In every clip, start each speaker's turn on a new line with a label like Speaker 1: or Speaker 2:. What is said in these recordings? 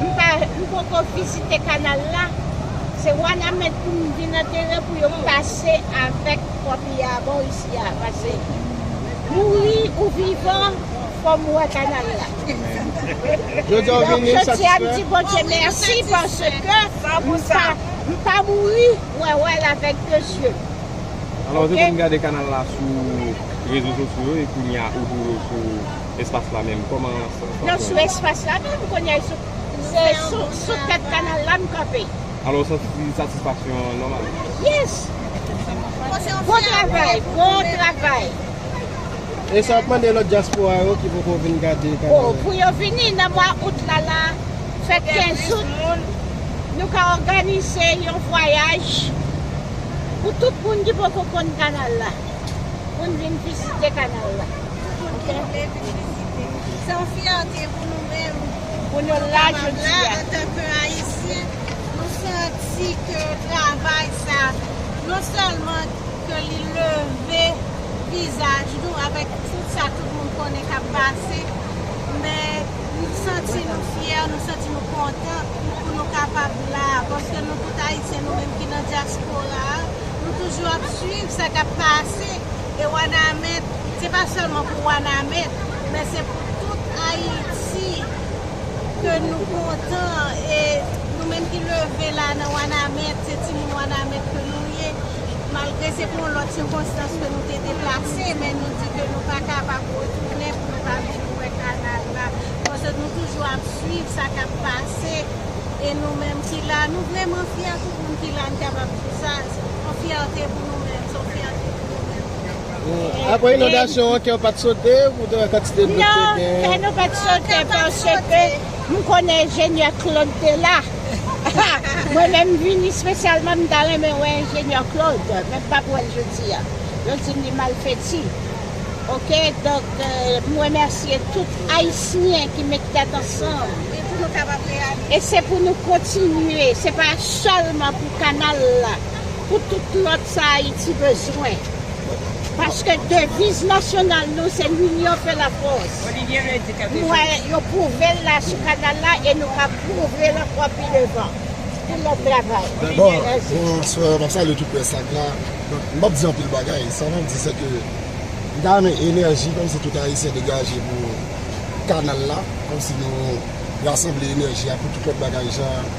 Speaker 1: M poko vizite kanal la. Se wanament pou m vin antere pou yo pase avek kopi a bon isi a pase mouri ou vivan fò m wè kanal la
Speaker 2: donk jodi a m di bondye
Speaker 1: mèsi paske m pa mouri wè wè l avek 2 zye m. Alò se
Speaker 3: pou m gade kanal la sou rezo sosyo e kounya ou di m sou. Espas la menm kòman sa jwenn. Nan sou espas la
Speaker 1: menm kounye a se sou tèt kanal la m kanpe. Alò w santi ti
Speaker 3: satisfaksyon an nòmal. Yes!
Speaker 1: Bon travay! Bon travay!
Speaker 2: E sa w ap mande lòt dyaspora yo ki poko vin gade kanal la? Oh pou yo vini
Speaker 1: nan mwa out la la fèt 15 out nou ka òganize yon vwayaj pou tout moun ki poko konn kanal la pou n vin vizite kanal la. Pou moun ki vle vin vizite.
Speaker 4: Se yon fyète pou nou menm pou nou la
Speaker 1: jodi a. Antanke
Speaker 4: Ayisyen, nou santi ke travay sa, non sèlman ke li leve vizaj nou avèk tout sa tout moun konnen k ap pase, men nou santi nou fyè, nou santi nou kontan pou nou kapab la a. Paske nou tout Ayisyen, nou menm ki nan dyaspora a, nou toujou ap swiv sa k ap pase. E Wanament, se pa sèlman pou Wanament, men se pou tout Ayiti ke nou kontan e nou menm ki leve la nan Wanament, se timoun Wanament ke nou ye, malgre se pou yon lòt sikonstans ke nou te deplase, men nou di ke nou pa kapab retounen pou nou pa vin wè kanal la. Paske nou toujou ap swiv sa kap pase e nou menm ki la, nou vreman fyè tout moun ki la, nou kapab di sa, yon fyète pou. Apre inondasyon
Speaker 2: an kè w pat sote pou w te wè kantite dlo k te gen? Non, kè nou pat
Speaker 1: sote paske m konnen enjenyè Claude te la. Mwen menm m vini spesyalman m ta renmen wè enjenyè Claude men m pap wè l jodi a. Yo di m li malfeti. Ok donk m remèsye tout ayisyen ki met tèt ansanm. E pou nou kapab reyalize. E se pou nou kontinye se pa sèlman pou kanal la. pou tout lòt sa Ayiti bezwen. Paske deviz nasyonal nou se L'union fait la force. M wè yo pwouve l la sou kanal la e nou ka pwouve l ankò pi devan. Pou lòt travay. Dabor,
Speaker 5: bonswa, map salye tout près la k la. M pap di anpil bagay, sa map di se ke m ta renmen enèji kòmsi tout Ayisyen degaje pou kanal la, kòmsi nou rasanble enèji a pou tout lòt bagay jan.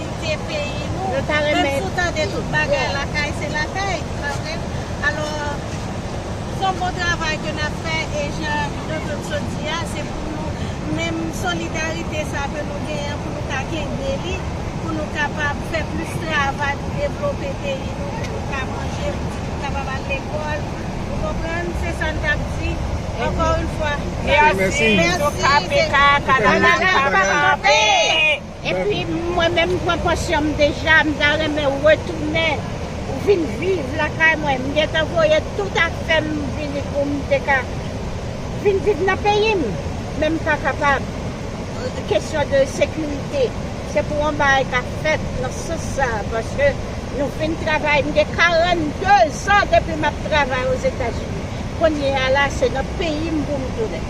Speaker 4: Kite peyi nou, menm si w tande tout bagay lakay se lakay, se pa vre? Alò, son bon travay ke n ap fè e jan Dodo Cho di a, se pou nou menm solidarite sa a ke nou genyen an pou nou ka kenbe li, pou nou kapab fè plis travay pou devlope peyi nou, pou nou ka manje, pou pitit nou kapab al lekòl. Ou konprann? Se sa n t ap di. Ankò yon fwa, mèsi. Mèsi. Mèsi.
Speaker 1: Okap e ka, Kanada pa kanpe! Epi mwen menm m pran pansyon m deja m ta renmen retounen vin viv lakay mwen m gentan voye tout afèm vini poum te ka vin viv nan peyim men m pa kapab kesyon de sekirite se pou yon bagay ka fèt nan sans sa paske nou fin travay m gen 42 zan depi map travay ozetazini kounyea la se nan peyim poum tounen.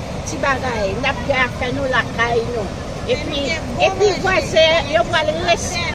Speaker 1: ti bagay nap gen afè nou lakay nou epi vwazen yo pral respè.